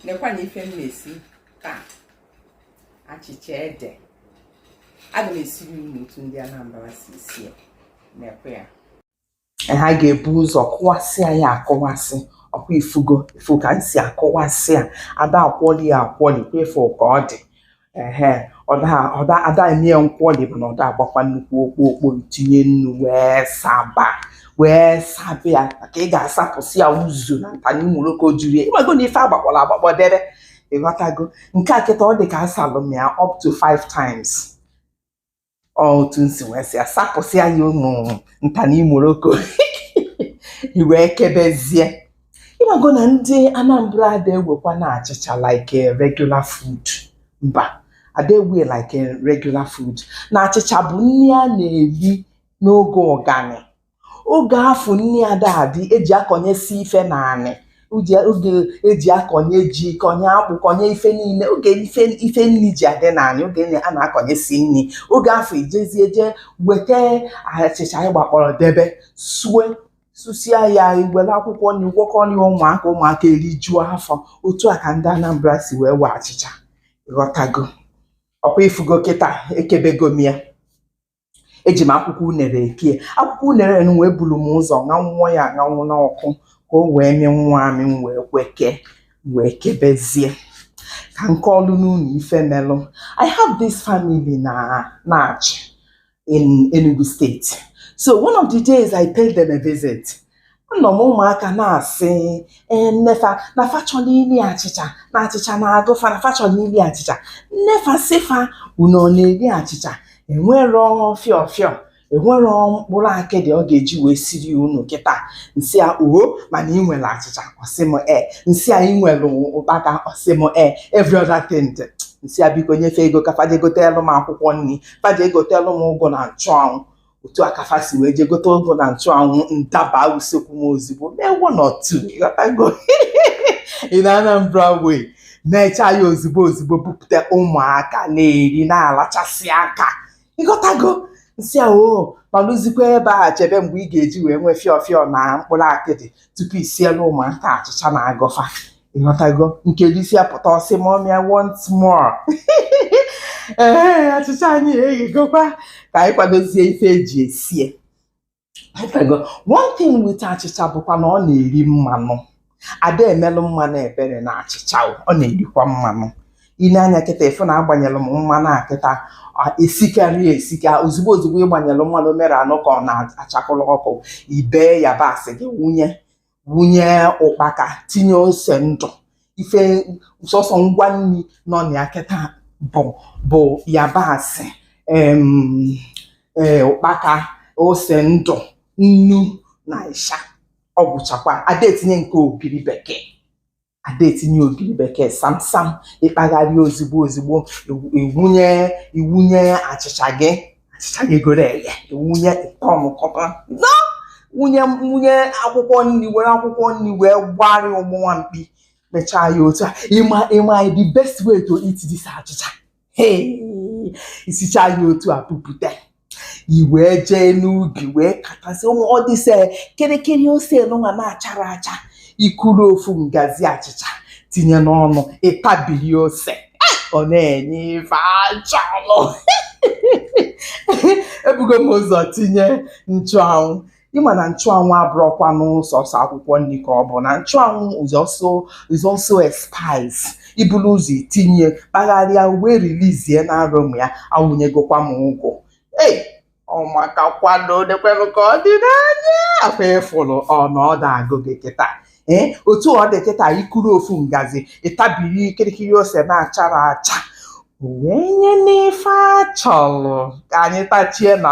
nekwa na ife m na-esi taa achịcha ede aga m esiri unu otu ndị Anambra si esi ya nekwa ya ha ga-ebu ụzọ kụwasị ya akụwasị ọkwa ifugo ifu ka m si akụwasị ya ada akwọli ya akwọli kwa ifu ka ọ dị ehe ọda ọda ada eme ya nkwọli bụ na ọda agbakwa nnukwu okpo okpo tinye nnu wee saba wee saba ya maka ị ga-asapụsị ya uzu na nta na imoroko juru ya ịmago na ife agbakpọrọ agbakpọ debe ịghọtago nke a kịta ọ dị ka asalụ m ya up to five times otu nsi wee sị ya sapụsịa ya ụmụ nta na imoroko iwee kebezie ịmago na ndị Anambra ada ewekwa na achịcha like regular food mba ada ewe like regular food na achịcha bụ nri a na-eri n'oge ụganị oge afụ nni ada adị eji akọnyesi ife n'anị oge eji akọnye ji kọnye akpụ kọnye ife niile oge ife nri ji adị n'anị oge a na-akọnyesi nri oge afụ ijezie je weta achịcha ị gbakpọrọ debe sue susia ya iwere akwụkwọ nri gwọkọ nye ụmụaka ụmụaka erijuo afọ otu a ka ndị Anambra si wee wee achịcha ghọtago ọkwa ifugo kịta ekebego m ya eji m akwụkwọ unere kee akwụkwọ unere n wee buru m ụzọ ṅanwụọ ya aṅanwụ n'ọkụ ka o wee mee nwa amị m wee kweke wee kebezie ka n kọọlụ unu ife melụ i have this family na Achị in Enugu steeti so one of the days i paid them a visit anọ m ụmụaka na-asị ee nnefa na fa chọrọ iri achịcha na achịcha na-agụ fa na fa chọrọ iri achịcha nnefa sị fa unu ọ na-eri achịcha enwerọ fịọ fịọ enwerọ mkpụrụ akịdị ọ ga-eji wee siri unu kịta nsị a uho mana ị nwere achịcha ọsị m e nsị a ị nwere ụkpaka ọsị m e every other thing dị. nsị a biko nyefe ego ka faje goteelụ m akwụkwọ nri faje goteelụ m ụgụ na nchụanwụ otu a ka fa si wee jee gote ụgụ na nchụanwụ ndaba usekwu m ozugbo mee one or two ịghọtago in Anambra way na-echa ya ozugbo ozugbo bupụta ụmụaka na-eri na-alachasị aka ịghọtago nsị a oo nọlụzikwa ebe a chebe mgbe ị ga-eji wee nwee fịọ fịọ na mkpụrụ akịdị tupu i sielụ ụmụaka achịcha na-agụ fa ịghọtago nke risia pụta ọsị mummy i want some more ee achịcha anyị eghegokwa ka anyị kwadozie ife eji esie ịghọtago one thing with achịcha bụkwa na ọ na-eri mmanụ ada emelụ mmanụ ebere na achịcha o, ọ na-erikwa mmanụ i nee anya kịta ifu na agbanyelụ m mmanụ a kịta a, esikarị ya esika ozugbo ozugbo ịgbanyelụ mmanụ mere anụ ka ọ na-achakụlụ ọkụ ibee yabasị gị wụnye wụnye ụkpaka tinye ose ndụ ife sọsọ ngwa nri nọ na ya kịta bụ bụ yabasị em, ee, ụkpaka ose ndụ nnu na ịsha ọ gwụchakwa ada etinye nke ogiri bekee ada etinye ogiri bekee samsam ị kpagharịa ozigbo ozigbo i wunye i wunye achịcha gị achịcha gị goro eghe i wunye ịkọmkọta no wunye wunye akwụkwọ nri were akwụkwọ nri wee gbarị ụgbụnwa mkpi mechaa ya otu a ị ma ị ma the best way to eat this achịcha i sichaa ya otu a bupụta i wee jee n'ubi wee katasị ụmụ ọ dịse kịrịkịrị ose nụnwa na-achara acha i kuru ofu ngazi achịcha tinye n'ọnụ ị tabiri ose ọ na-enye ife a chọlụ ebugo m ụzọ tinye nchụanwụ ị ma na nchụanwụ abụrọkwanụ sọsọ akwụkwọ nri ka ọ bụ na nchụanwụ is also is also spice i bulu ụzọ tinye kpagharịa wee release na aroma ya awụnyegokwa m ụgụ ee ọ maka kwado lekwenụ ka ọ dị n'anya ọkwa ị fụrụ na ọ na-agụ gị kịta ee otu ọ dị kịta i kuru ofu ngazi ị tabiri kịrịkịrị ose na-achara acha wee nye n'ife a chọrọ ka anyị tachie na